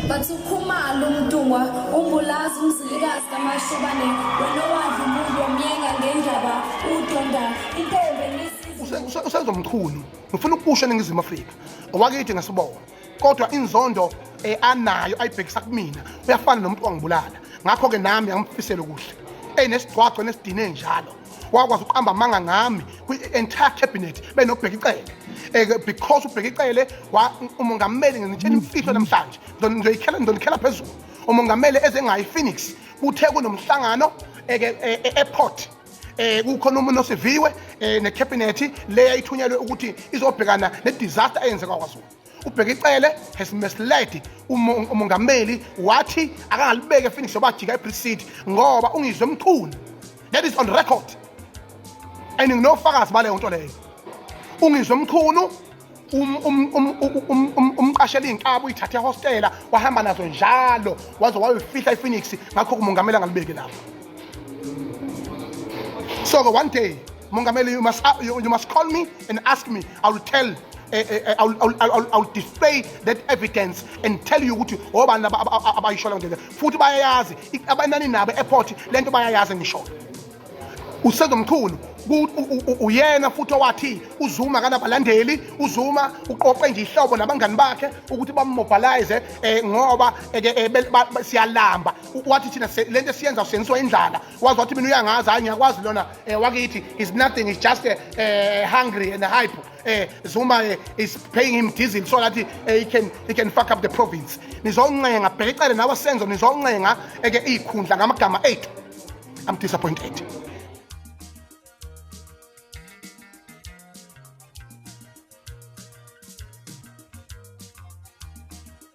Bathi ukhumalo umntungwa umbulazi umzilikazi kamashobane wena owadla umuntu wamyenga ngendaba udonda intombi enisi- usenza umchunu ngifuna ukusho eningizimu afrika owakithi ngasibona kodwa inzondo um anayo ayibhekisa kumina uyafana nomuntu wangibulala ngakho-ke nami angimphisele kuhle eyi nesigcwagcwa nesidine njalo wakwazi ukuqamba amanga ngami kwi-entire cabinet benobheka icele eh, because ubheka icele umongameli nginitshela imfihlo namhlanje ngizoyikhela ngizonikhela phezulu umongameli ezengayi phoenix kuthe kunomhlangano eh, eh, e-airport eh kukhona umuntu osiviwe eh, ne cabinet le yayithunyelwe ukuthi izobhekana ne disaster eyenzeka kwaZulu ubhekicele has misled umongameli wathi akangalibeke phoenix yobajika eprisidi ngoba ungizwe mchunu that is on record and nginofakazi baleyo nto leyo ungizwe mchunu Um, um, um, umqashela iy'nkabi uyithathe ehostela wahamba nazo njalo waze wayofihla iphoenix ngakho kumongameli angalibeki lapho so-ke one day Mongameli, you must, uh, you, you must call me and ask me. I will tell uh, uh, uh, I, will, I, will, I, will, I will display that evidence and tell you ukuthi obani abayishola ngeke futhi bayayazi abanani nabo airport lento bayayazi ngisho usezomkhulu uyena futhi owathi uzuma kanabalandeli uzuma uqoqe nje ihlobo nabangani bakhe ukuthi bamobilize um ngoba eh, eh, siyalamba wathi thina le nto esiyenza usenziwa indlala waze wathi mina uyangazi hayi ngiyakwazi lona um wakithi is nothing is just uh, hungry and hype um zuma uh, is paying him diesel so that uh, he, can, he can fuck up the province nizoncenga bheka icele nawe senzo nizoncenga eke iy'khundla ngamagama ethu i'm disappointed